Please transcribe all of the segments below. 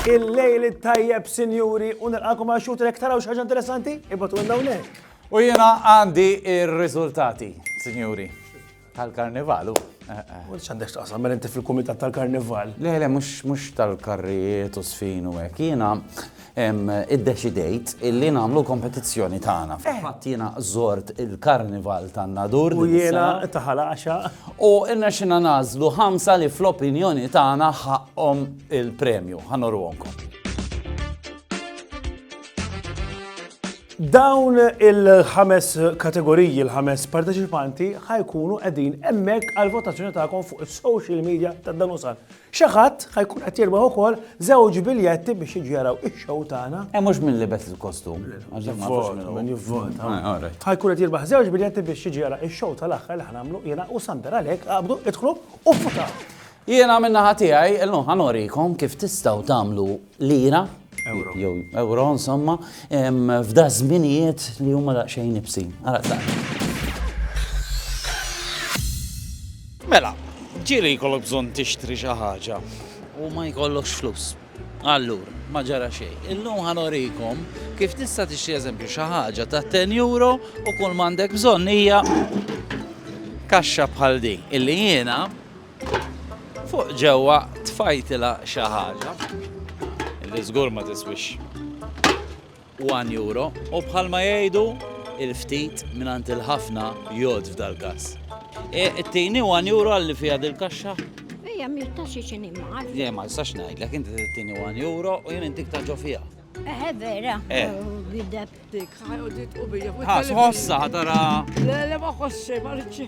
Il-lejl it-tajjeb, sinjuri, u nilqakom għal xut rek taraw xaġa interessanti, ibatu għandawnek. U jena għandi il-rizultati, sinjuri. Tal-karnival, u. U x'għandek x'taqsam, mela inti fil-kumitat tal-karnival? Le, le, mhux tal-karrijiet u sfin u hekk. Jiena iddeċidejt illi nagħmlu kompetizzjoni tagħna. Eh. Fatt jiena żort il-karnival tan-nadur. U jiena taħal għaxa. U inna xina nażlu ħamsa li fl-opinjoni tagħna ħaqqhom il-premju. Ħanorwonkom. Dawn il-ħames kategoriji, il-ħames parteċipanti ħajkunu qegħdin hemmhekk għal votazzjoni tagħkom fuq is-social media ta' dan usal. Xi ħadd ħajkun qed jirbaħ ukoll żewġ biljetti biex jiġu jaraw ix-show tagħna. Hemm mhux min libes il-kostum. Min jivvota. Ħajkun qed jirbaħ żewġ biljetti biex jiġu jara ix-show tal-aħħar li ħanamlu jiena u Sander għalhekk qabdu idħlu u votaw. Jiena minna ħatijaj, l-lum ħanorikom kif tistaw tamlu lira, jew euro insomma, f'da żminijiet li huma daqsxejn ibsin. Mela, ġieli jkollok bżonn tixtri xi ħaġa u ma jkollokx flus. Allur, ma ġara xejn. Illum ħanorikom kif tista' tixtri eżempju xi ħaġa ta' 10 euro u kull m'għandek bżonn hija kaxxa bħal din illi jiena Fuq ġewwa tfajtilha xi ħaġa li żgur ma tiswix 1 euro u bħalma jgħidu il-ftit mingħand il-ħafna jgħod f'dal-każ. E, Tini 1 euro għalli fiha dil-kaxxa? Ejja, mi taxi xini ma. Le, ma nistax ngħidlek, inti tini 1 euro u jien intik taġġo fiha. Eħe eh, vera. Eh. Oh, Bideb. Dik ħajodit u bija. Ħas ħossa ħatara. Le, le ma ħossi, ma rridx.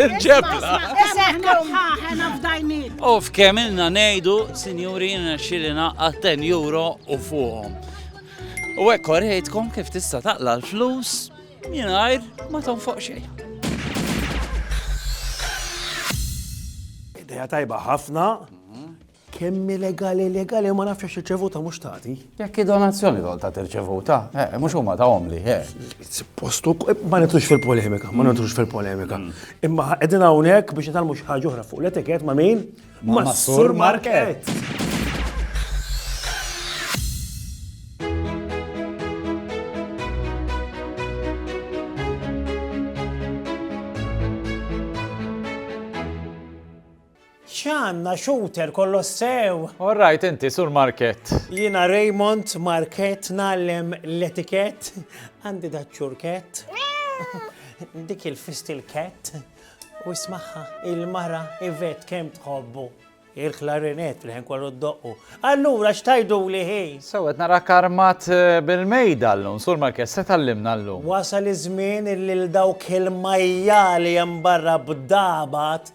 Il-ġebla. U f'kemm ilna ngħidu, sinjuri, xilina għal 10 euro u fuqhom. U hekk korrejtkom kif tista' taqla l-flus mingħajr ma tonfoq xejn. Ideja tajba ħafna. Kemm hi legali legali ma nafx għax irċevuta mhux tagħti. Jekk hi donazzjoni tgħol tagħti rċevuta, eh, mhux huma tagħhomli, eh. Postu eh, ma nitrux fil-polemika, ma nitrux fil-polemika. Mm. Imma qegħdin hawnhekk biex nitgħallmu xi ħaġa oħra fuq l-etikett ma' min? Ma' Sur Market. X'għandna shooter kollox sew! All right inti Sur Markett. Jiena Raymond Markett ngħallem l-etikett, għandi daċ-ċurkett, dik il-fist il-kett, u ismagħha il-mara Yvette kemm tħobbu il-klarinett li ħin kollu ddoqqu. Allura x'tajduli hi? Sew qed narak armat eh, bil-mejda llum, Sur Markett, se tallimna llum. Wasal iż-żmien illi l dawk il-majjali hemm barra b'dabat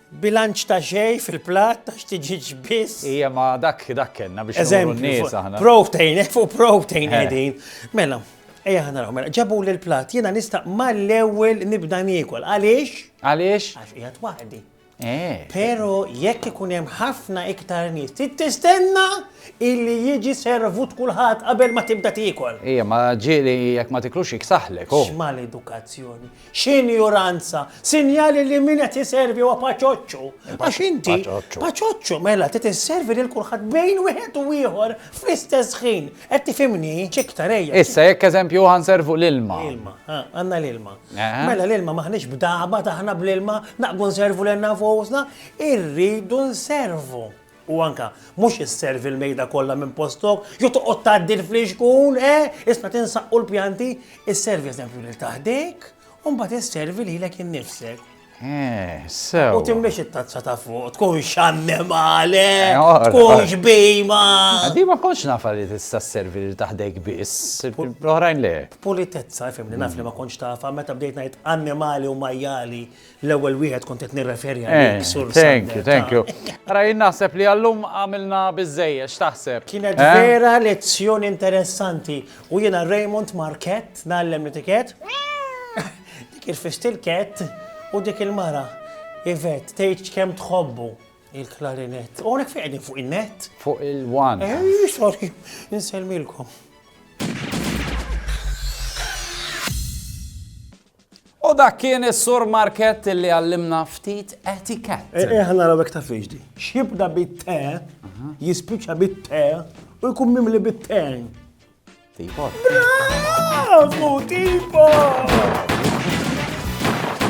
Bilanċ ta' xejn fil-platt ta' xtiġiġ biss. Ija ma dak dak kellna biex nuru n-nies aħna. Protein, fuq protein qegħdin. Mela, Ejja ħana raw, mela, ġabu li l-plat, jena nista mal-ewel nibda niekol. Għaliex? Għaliex? Għax jgħat waħdi. Eh. Pero jekk ikun hemm ħafna iktar nies, tistenna illi jiġi servut kulħadd qabel ma tibda tiekol. Ija, ma ġieli jekk ma tiklux iksaħlek. Oh. X'mal edukazzjoni. X'injuranza! Sinjali li min qed iservi huwa paċoċċu. Għax inti paċoċċu mela trid isservi lil kulħadd bejn wieħed u ieħor fl-istess ħin. Qed tifhimni? Ċiktar ejja. Issa jekk eżempju ħanservu l-ilma. Ilma, għandna l-ilma. Mela l-ilma maħniex b'daba taħna bl-ilma naqbu nservu lil nafusna, irridu nservu. U anke, mhux isservi l-mejda kollha minn postok, jew toqgħod tgħaddi l-flixkun, eh! Isna' tinsaqqu l-pjanti, isservi eżempju lil ta' ħdejk, u mbagħad isservi lilek innifsek. Eh, sew. U timmiex it-tazza ta' fuq, tkun xannem għale, eh, tkun xbima. Għaddi ma konx nafa li tista' servi li taħdejk biss, oħrajn le. Politezza, fimni, naf li ma konx tafa, meta bdejt ngħid annimali u majjali, L-ewwel wieħed kont qed nirreferi eh, għalik sur. Thank you, thank you. Ara jien naħseb li għallum għamilna biżejjed x'taħseb. Kienet eh? vera lezzjoni interessanti u jiena Raymond Market nagħllem l-etiket. Dik il-fist il-ket u dik il-mara. Ivet, tgħid kemm tħobbu il-klarinett. U għonek fejn fuq il-net? Fuq il-wan. Eh, sorry, nselmilkom. U dak kien is-Sur Markett li għallimna ftit etikett. Eħna eh, eh, naraw hekk ta' fiex di. X'jibda bit-te, jispiċċa bit-te u jkun mimli bit-te. Tipo. Bravo, tipo!